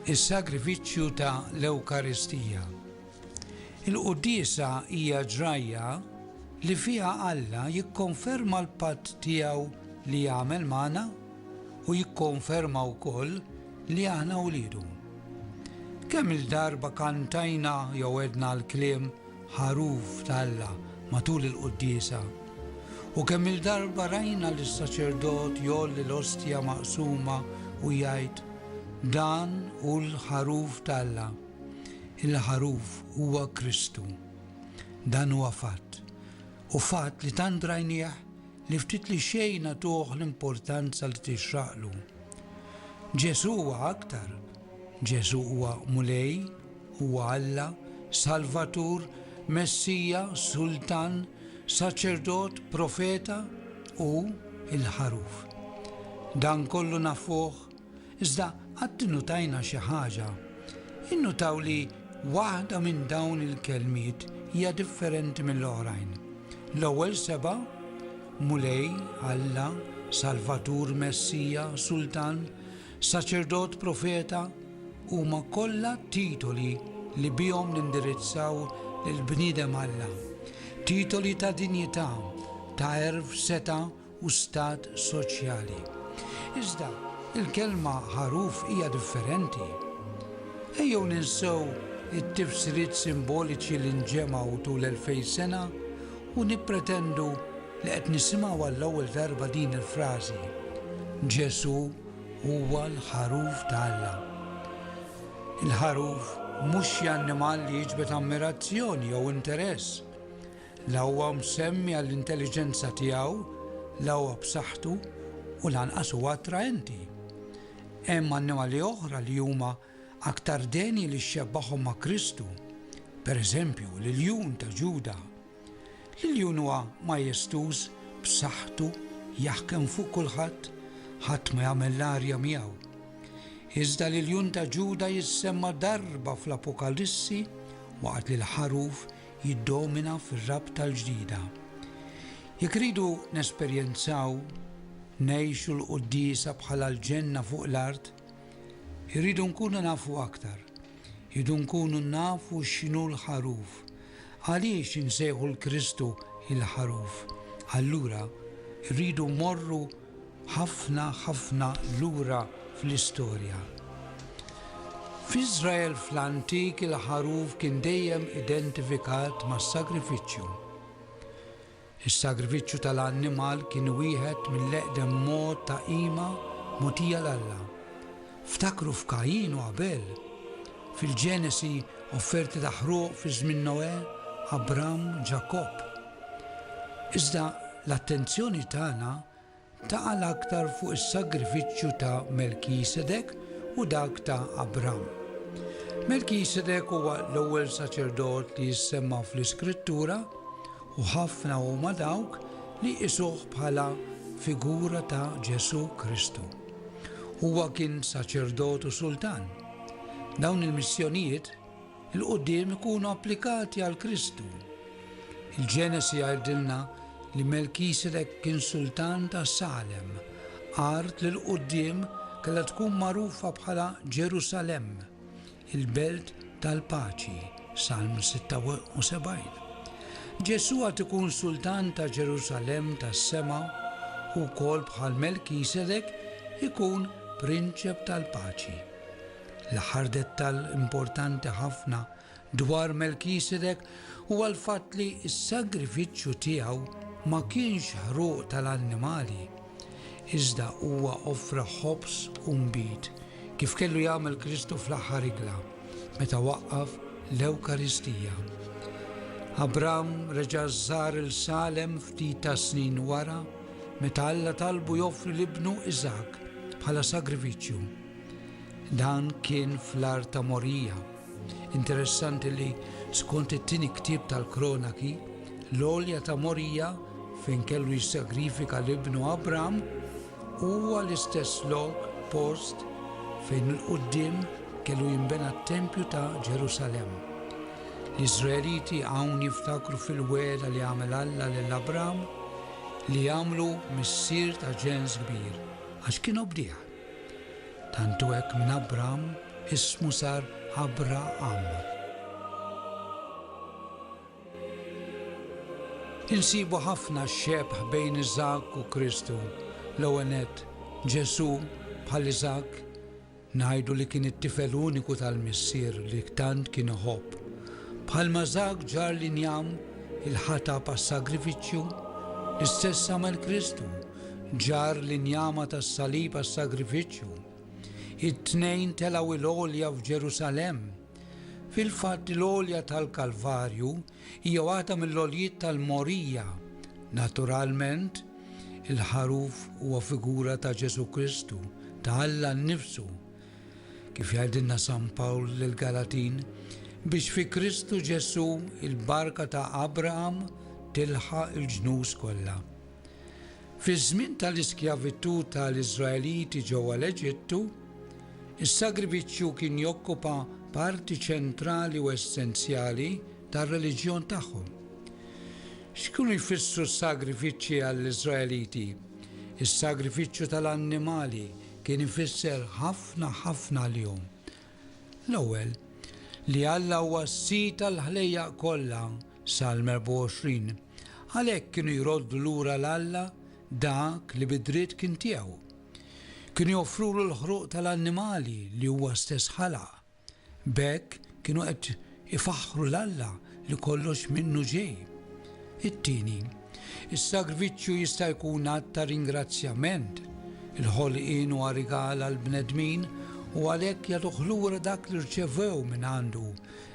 is-sagrifiċċju ta' l-Ewkaristija. Il-Quddiesa hija ġrajja li fiha Alla jikkonferma l-patt tiegħu li jagħmel magħna u jikkonferma wkoll li aħna wliedu. Kemm-il darba kantajna jew għedna l-kliem Ħaruf t'Alla matul il-Quddiesa, u kemm-il darba rajna lis-saċerdot jgħolli l-Ostja maqsuma u jgħid, Dan hu l-Ħaruf t'Alla. Il-Ħaruf huwa Kristu. Dan huwa fatt, u fatt li tant rajnieh li ftit li xejn agħtuh l-importanza li tixraqlu. Ġesù huwa aktar. Ġesù huwa Mulej, huwa Alla, Salvatur, Messija, Sultan, Saċerdot, Profeta u l-Ħaruf. Dan kollu nafuh Iżda qatt innutajna xi ħaġa? Innutaw li waħda minn dawn il-kelmiet hija differenti mill-oħrajn? L-ewwel sebgħa, Mulej, Alla, Salvatur, Messija, Sultan, Saċerdot, Profeta, huma kollha titoli li bihom nindirizzaw lill-bniedem Alla, titoli ta' dinjità, ta' għerf, setgħa u stat soċjali. Iżda, il-kelma ħaruf hija differenti. Ejjew ninsew it-tifsiriet simboliċi li nġemgħu tul elfejn sena u nippretendu li qed nisimgħu għall-ewwel darba din il-frażi, Ġesù huwa l-Ħaruf ta' Alla. Il-ħaruf mhux xi annimal li jiġbed ammirazzjoni jew interess. La huwa msemmi għall-intelliġenza tiegħu, la huwa b'saħħtu u lanqas huwa attraenti. Hemm annimali oħra li huma aktar deni li xxebbahom ma' Kristu, per eżempju, l-iljun ta' Ġuda. L-iljun huwa majestuż, b'saħħtu, jaħkem fuq kulħadd, ħadd ma jagħmel l-arja miegħu. Iżda l-iljun ta' Ġuda jissemma darba fl-Apokalissi waqt li l-ħaruf jiddomina fir-rabta l-ġdida. Jekk irridu nesperjenzaw ngħixu l-Quddiesa bħala l-ġenna fuq l-art, irridu nkunu nafu aktar, irridu nkunu nafu x'inhu l-Ħaruf. Għaliex insejħu 'l Kristu il-Ħaruf? Allura rridu mmorru ħafna, ħafna lura fl-istorja. F'Iżrael fl-antik il-ħaruf kien dejjem identifikat mas-sagrifiċċju. Is-sagrifiċċju tal-annimal kien wieħed mill-eqdem mod ta' qima mogħtija 'l Alla. Ftakru f'Kajin u Abel. Fil-Ġenesi, offerti ta' ħruq fi żmien Noè, Abram, Ġakobb. Iżda l-attenzjoni tagħna taqa' l-aktar fuq is-sagrifiċċju ta' Melkisedek u dak ta' Abram. Melkisedek huwa l-ewwel saċerdot li jissemma fl-Iskrittura u ħafna huma dawk li jqisuh bħala figura ta' Ġesù Kristu. Huwa kien saċerdot u sultan. Dawn il-missjonijiet, 'l quddiem ikunu applikati għal Kristu. Il-Ġenesi jgħidilna li Melkisedek kien sultan ta' Salem, art li 'l quddiem kellha tkun magħrufa bħala Ġerusalemm, il-belt tal-paċi, Salm 76. Ġesù għad ikun sultan ta' Ġerusalemm tas-sema u wkoll bħal Melkisedek ikun prinċep tal-paċi. L-aħħar dettall importanti ħafna dwar Melkisedek huwa l-fatt li s-sagrifiċċju tiegħu ma kienx ħruq tal-annimali, iżda huwa offra ħobż u nbid, kif kellu jagħmel Kristu fl-aħħar ikla, meta waqqaf l-Ewkaristija. Abram reġa' żar il-Salem ftit tas-snin wara, meta Alla talbu joffri l-ibnu Iżakk bħala sagrifiċċju. Dan kien fl-art ta' Morija. Interessanti li, skont it-tieni ktieb tal-Kronaki, l-għolja ta' Morija, fejn kellu jissagrifika l-ibnu Abram, huwa l-istess lok, post, fejn il-quddiem kellu jinbena t-tempju ta' Ġerusalemm. L-Iżraeliti hawn jiftakru fil-wegħda li għamel Alla lil Abram li jagħmlu missier ta' ġens kbir, għax kien obdih. Tant hu hekk minn Abram, ismu sar Abraham. Insibu ħafna xebh bejn Iżakk u Kristu. L-ewwel nett, Ġesù, bħal Iżakk, ngħidu li kien it-tifel uniku tal-Missier li tant kien iħobb. Bħalma Iżakk ġarr l-injam, il-ħatab għas-sagrifiċċju, l-istess għamel Kristu, ġarr l-injama tas-salib għas-sagrifiċċju. It-tnejn telgħu 'l għolja f'Ġerusalemm. Fil-fatt il-għolja tal-Kalvarju hija waħda mill-għoljiet tal-mogħrija. Naturalment, il-ħaruf huwa figura ta' Ġesù Kristu, ta' Alla nnifsu. Kif jgħidilna San Pawl lill-Galatin, biex fi Kristu Ġesù il-barka ta' Abraham tilħaq il-ġnus kollha. Fiż-żmien tal-iskjavitù ta' l-Iżraeliti ġewwa l-Eġittu, is-sagrifiċċju kien jokkupa parti ċentrali u essenzjali tar-reliġjon tagħhom. X'kienu jfissru s-sagrifiċċji għall-Iżraeliti? Is-sagrifiċċju ta' l-annimali kien ifisser ħafna ħafna għalihom. L-ewwel, li Alla huwa s-Sid tal-ħlejjaq kollha, Salm 24, għalhekk kienu jroddu lura 'l Alla dak li bid-dritt kien tiegħu. Kienu joffrulu l-ħruq tal-annimali li huwa stess ħalaq. B'hekk kienu qed Ifaħħru 'l Alla li kollox minnu ġej. It-tieni, is-sagrifiċċju jista' jkun att ta' ringrazzjament. Il-ħolqien huwa rigal għall-bnedmin u għalhekk jagħtuh lura dak li rċevew mingħandu.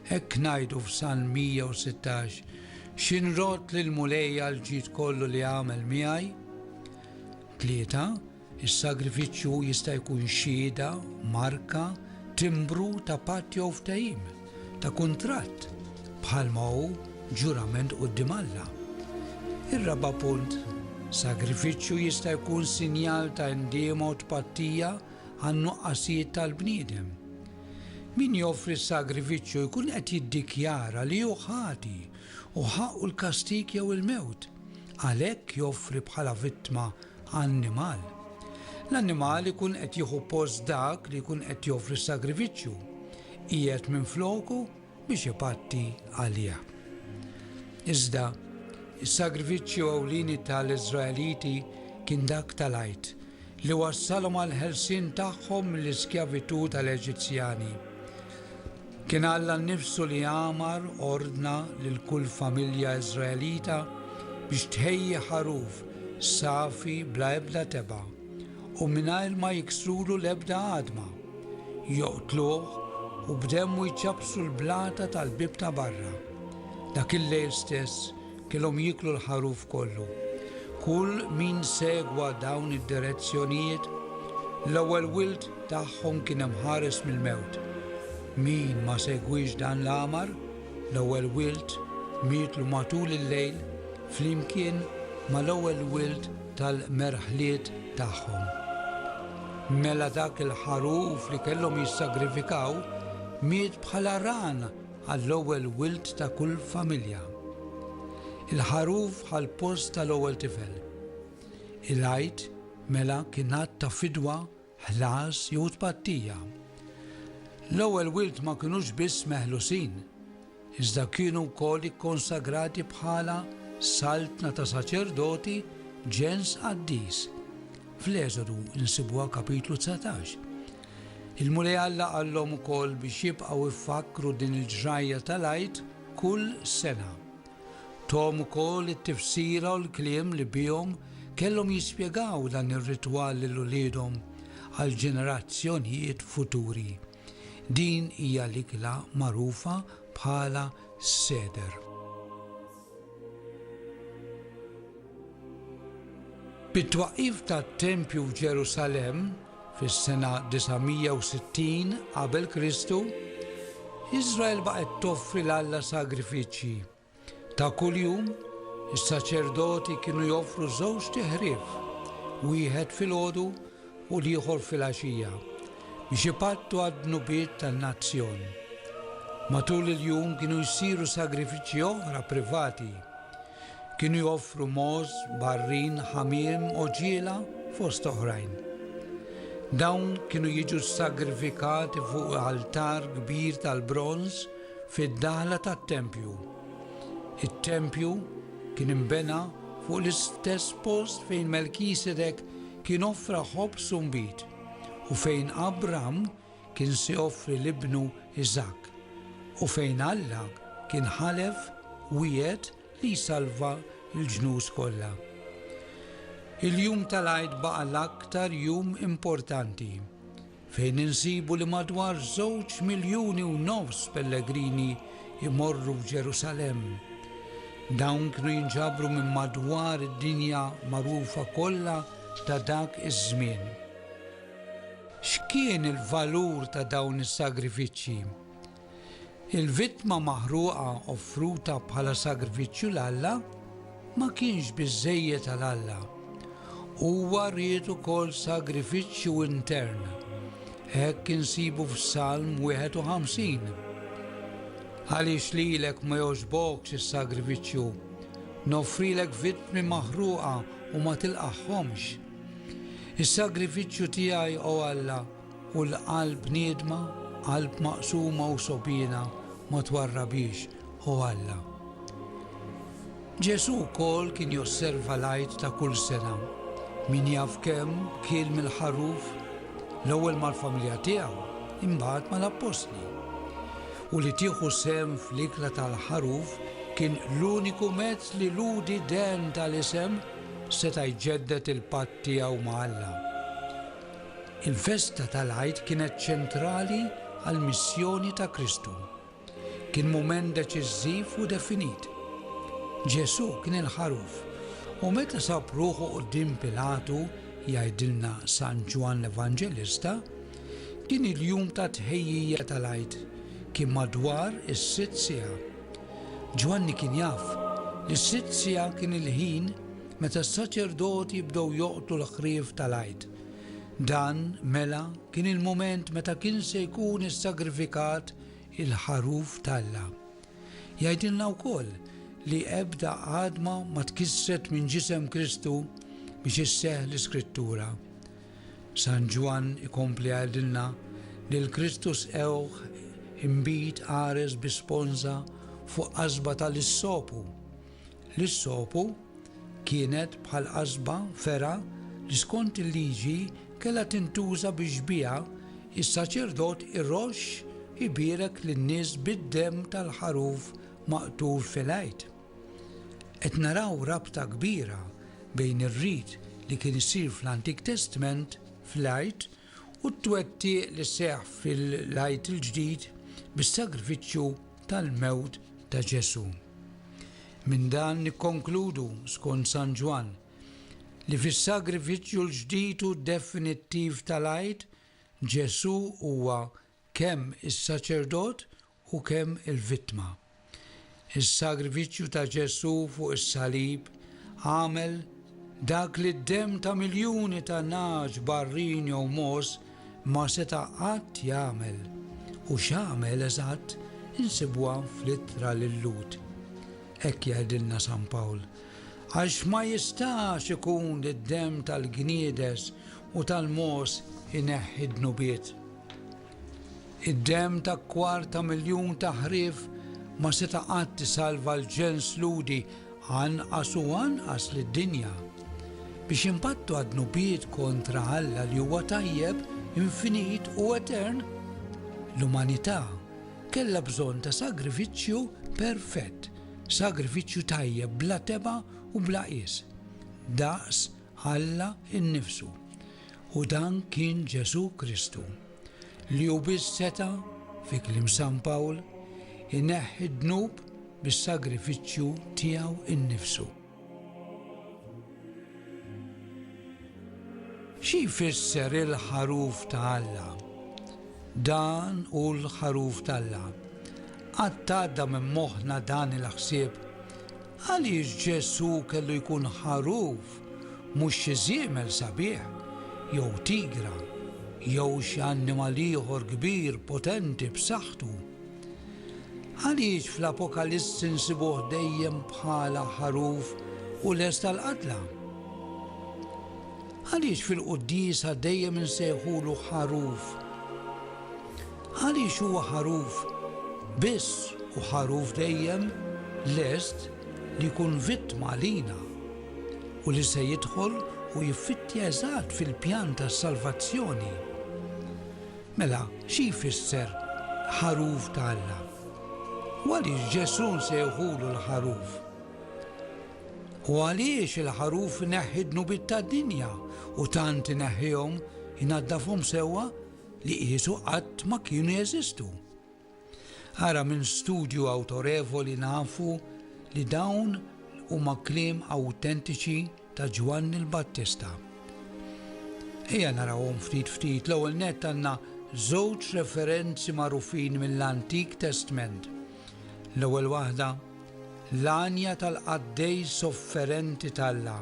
Hekk ngħidu f'Salm 116, Xi nrodd lill-Mulej għall-ġid kollu li għamel miegħi? Tlieta, Is-sagrifiċċju jista' jkun xhieda, marka, timbru ta' patt jew ftehim, ta' kuntratt, bħalma hu ġurament quddiem Alla. Ir-raba' punt, sagrifiċċju jista' jkun sinjal ta' indiema u tpattija għan-nuqqasijiet tal-bniedem. Min joffri s-sagrifiċċju jkun qed jiddikjara li hu ħati u ħaqqu l-kastig jew il-mewt, għalhekk joffri bħala vittma annimal. L-annimal ikun qed jieħu post dak li jkun qed joffri s-sagrifiċċju, qiegħed minfloku biex ipatti għalih. Iżda, is-sagrifiċċju ewlieni tal-Iżraeliti kien dak tal-għid li wassalhom għall-ħelsien tagħhom mill-iskjavitù tal-Eġizzjani. Kien Alla nnifsu li amar, ordna, lil kull familja Iżraelita biex tħejji ħaruf safi bla ebda tebgħa u mingħajr ma jiksrulu l-ebda għadma, joqtluh u b'demmu jċappsu l-blata tal-bieb ta' barra. Dak il-lejl stess, Kellhom jieklu l-ħaruf kollu. Kull min segwa dawn id-direzzjonijiet, l-ewwel wild tagħhom kien imħares mill-mewt. Min ma segwiex dan l-amar, l-ewwel wild mietlu matul il-lejl flimkien mal-ewwel wild tal-merħliet tagħhom. Mela dak il-ħaruf li kellhom jissagrifikaw miet bħala ran għall-ewwel wild ta' kull familja. Il-Ħaruf ħall-post tal-ewwel tifel. Il-Għid, mela, kien att ta' fidwa, ħlas jew tpattija. L-ewwel wild ma kinux biss meħlusin, iżda kienu wkoll ikkonsagrati bħala saltna ta' saċerdoti ġens qaddis. Fl-Eżodu nsibuha kapitlu dsatax. Il-Mulej Alla qallhom ukoll biex jibqgħu jfakkru din il-ġrajja tal-Għid kull sena. Tahom ukoll it-tifsira u l-kliem li bihom kellhom jispjegaw dan ir-ritwal lil uliedhom għal ġenerazzjonijiet futuri. Din hija l-ikla magħrufa bħala s-Seder. Bit-twaqqif tat-tempju f'Ġerusalemm fis-sena 960 qabel Kristu, Iżrael baqgħet toffri 'l Alla sagrifiċċji. Ta' kuljum, is-saċerdoti kienu joffru żewġt iħrief, wieħed filgħodu u l-ieħor filgħaxija biex ipattu għad-dnubiet tan-nazzjon. Matul il-jum kienu jsiru sagrifiċċji oħra privati. Kienu joffru mogħoż, barrin, ħamiem, għoġiela fost oħrajn. Dawn kienu jiġu sagrifikati fuq altar kbir tal-bronż fid-daħla tat-tempju. It-tempju kien imbena fuq l-istess post fejn Melkisedek Kien offra ħobż u nbid, u fejn Abram kien se joffri l-ibnu Iżakk, u fejn Alla kien ħalef, wiegħed li jsalva l-ġnus kollha. Il-jum tal-Għid baqa' l-aktar jum importanti. fejn insibu li madwar żewġ miljuni u nofs pellegrini jmorru f'Ġerusalemm. Dawn kienu jinġabru minn madwar id-dinja magħrufa kollha ta' dak iż-żmien. X'kien il-valur ta' dawn is-sagrifiċċji? Il-vittma maħruqa offruta bħala sagrifiċċju 'l Alla ma kienx biżżejjed għal Alla. Huwa ried ukoll sagrifiċċju intern. Hekk insibu f'Salm 51. Għaliex lilek ma jogħġbokx is-sagrifiċċju, noffrilek vittmi maħruqa u ma tilqagħhomx. Is-sagrifiċċju tiegħi, o Alla, U l-qalb bniedma, qalb maqsuma u sogħbiena ma twarrabhiex, O Alla. Ġesù wkoll kien josserva l-Għid ta' kull sena, min jaf kemm, kiel mill-ħaruf, l-ewwel mal-familja tiegħu, imbagħad mal-appostli. U li tieħu sehem fl-ikla tal-ħaruf kien l-uniku mezz li l-Udi dehn tal-isem seta' jġedded il-patt tiegħu ma' Alla. Il-festa tal-Għid kienet ċentrali għall-missjoni ta' Kristu. Kien mument deċiżiv u definit. Ġesù kien il-Ħaruf, u meta sab ruħu quddiem Pilatu, jgħidilna San Ġwann l-Evanġelista, kien il-jum tat-tħejjija tal-Għid, kien madwar is-sitt siegħa. Ġwanni kien jaf li s-sitt siegħa kien il-ħin meta s-saċerdoti bdew joqtlu l-ħrief tal-Għid. Dan, mela, kien il-mument meta kien se jkun issagrifikat il-Ħaruf t'Alla. Jgħidilna wkoll li ebda għadma ma tkissret minn ġisem Kristu biex isseħħ l-Iskrittura. San Ġwann ikompli jgħidilna li l-Kristu sqewh inbid qares bi sponża fuq qasba tal-issopu. L-issopu kienet bħal qasba, fergħa, li skont il-Liġi kellha tintuża biex biha s-saċerdot iroxx ibierek lin-nies bid-demm tal-ħaruf maqtul fil-Għid. Qed naraw rabta kbira bejn ir-rit li kien isir fl-Antik Testment fl-Għid u t-twettiq li seħħ fil-Għid il-Ġdid bis-sagrifiċċju tal-mewt ta' Ġesù. Minn dan nikkonkludu, skont San Ġwann, li fis-sagrifiċċju l-ġdid u definittiv tal-Għid, Ġesù huwa kemm is-saċerdot u kemm il-vittma. Is-sagrifiċċju ta' Ġesù fuq is-salib għamel dak li d-demm ta' miljuni ta' nagħaġ, barrin jew mogħoż ma seta' qatt jagħmel. U x'għamel eżatt insibuha fl-Ittra lil Lhud. Hekk jgħidilna San Pawl, Għax ma jistax ikun li d-demm tal-gniedes u tal-mogħoż ineħħi d-dnubiet. Id-demm ta' kwart ta' miljun ta' ħrief ma seta' qatt isalva l-ġens Lhudi, anqas u anqas lid-dinja. Biex inbattu għad-dnubiet kontra Alla li huwa tajjeb, infinit u etern, l-umanità kellha bżonn ta' sagrifiċċju perfett, sagrifiċċju tajjeb bla tebgħa u bla qies, daqs Alla nnifsu. U dan kien Ġesù Kristu, li hu biss seta', fi kliem San Pawl, ineħħi d-dnub bis-sagrifiċċju tiegħu nnifsu. Xi jfisser il-ħaruf ta' Alla? Dan hu l-ħaruf t'Alla. Qatt għadda minn moħħna dan il-ħsieb Għaliex Ġesù kellu jkun ħaruf, mhux xi żiemel sabiħ, jew tigra, jew xi annimal ieħor kbir, potenti, b'saħħtu? Għaliex fl-Apokalissi nsibuh dejjem bħala ħaruf u lest għall-qatla? Għaliex fil-quddiesa dejjem insejħulu ħaruf? Għaliex huwa ħaruf biss u ħaruf dejjem lest li jkun vittma għalina u li se jidħol u jiffittja eżatt fil-pjan tas-salvazzjoni. Mela, xi jfisser ħaruf ta' Alla? U għaliex Ġesù nsejħulu l-ħaruf? U għaliex il-ħaruf ineħħi d-dnubiet tad-dinja u tant ineħħihom, inaddafhom sewwa li qisu qatt ma kienu jeżistu. Ara minn studju awtorevoli nafu li dawn huma kliem awtentiċi ta' Ġwanni l-Battista. Ejja narawhom ftit ftit l-ewwel nett għandna żewġ referenzi magħrufin mill-Antik Testment. L-ewwel waħda, l-għanja tal-qaddej sofferenti tal-la,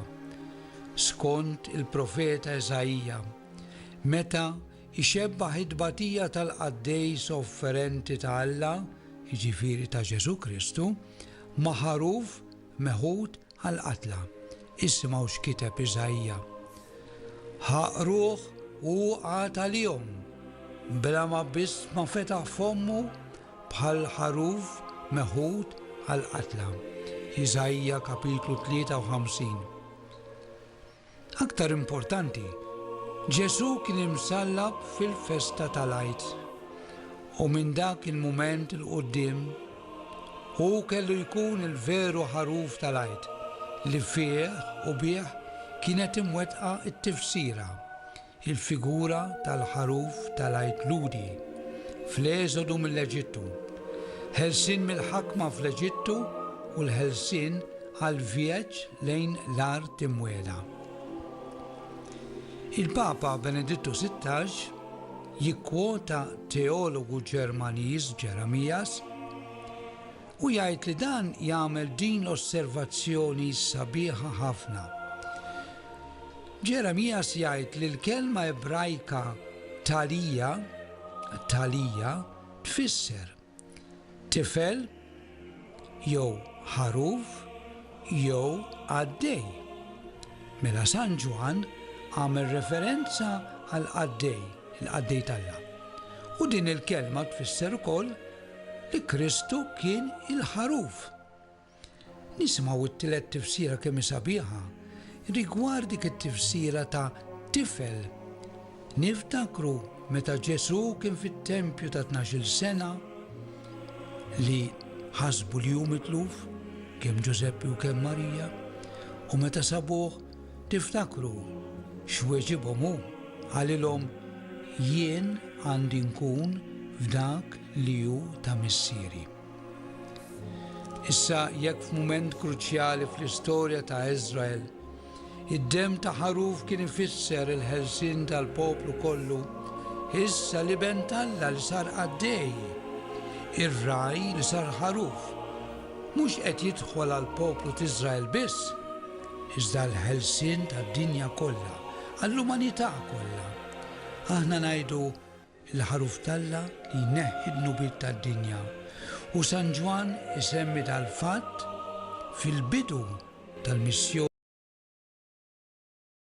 skont il-profeta Eżaija. Meta jxebbah it-tbatija tal-qaddej sofferenti ta' Alla, jiġifieri ta' Ġesù Kristu, ma' ħaruf meħud għall-qatla. Issimgħu x'kiteb Iżaija, Ħa qruh u hu qagħad għalihom, bla ma biss ma fetaħ fommu bħal ħaruf meħud għall-qatla. Iżaija, kapitlu 53. Aktar importanti, Ġesù kien imsallab fil-festa tal-Għid, u minn dak il-mument 'il quddiem hu kellu jkun il-veru ħaruf tal-Għid li fih u bih kienet imwettqa t-tifsira Il-figura tal-ħaruf tal-Għid Lhudi fl-Eżodu mill-Eġittu, ħelsien mill-ħakma fl-Eġittu u l-ħelsien għall-vjeġġ lejn l-Art Imwiegħda. Il-Papa Benedittu Sittax jikkwota teologu Ġermaniż Jeremias, Hu jgħid li dan jagħmel din l-osservazzjoni sabiħa ħafna. Ġeremijas jgħid li l-kelma Ebrajka thalija, thalija, tfisser tifel jew ħaruf jew qaddej. Mela San Ġwann għamel referenza għal qaddej, il-qaddej t'Alla. U din il-kelma tfisser ukoll li Kristu kien il-Ħaruf. Nisimgħu t-tielet tifsira kemm hi sabiħa rigward dik it-tifsira ta' tifel. Niftakru meta Ġesù kien fit-tempju ta' tnax-il sena li ħasbu li hu mitluf kemm Ġużeppi u kemm Marija u meta sabuh Tiftakru x'weġibhom hu? Qalilhom, Jien għandi nkun f'dak li hu ta' Missieri. Issa, jekk f'mument kruċjali fl-istorja ta' Iżrael, id-demm ta' ħaruf kien ifisser il-ħelsien tal-poplu kollu, issa l-Iben t'Alla li sar qaddej, ir-ragħaj li sar ħaruf, mhux qed jidħol għall-poplu t'Iżrael biss, iżda l-ħelsien tad-dinja kollha, għall-umanità kollha. Aħna ngħidu, Il-Ħaruf t'Alla li jneħħi d-dnubiet tad-dinja. U San Ġwann isemmi dal-fatt fil-bidu tal-missjoni.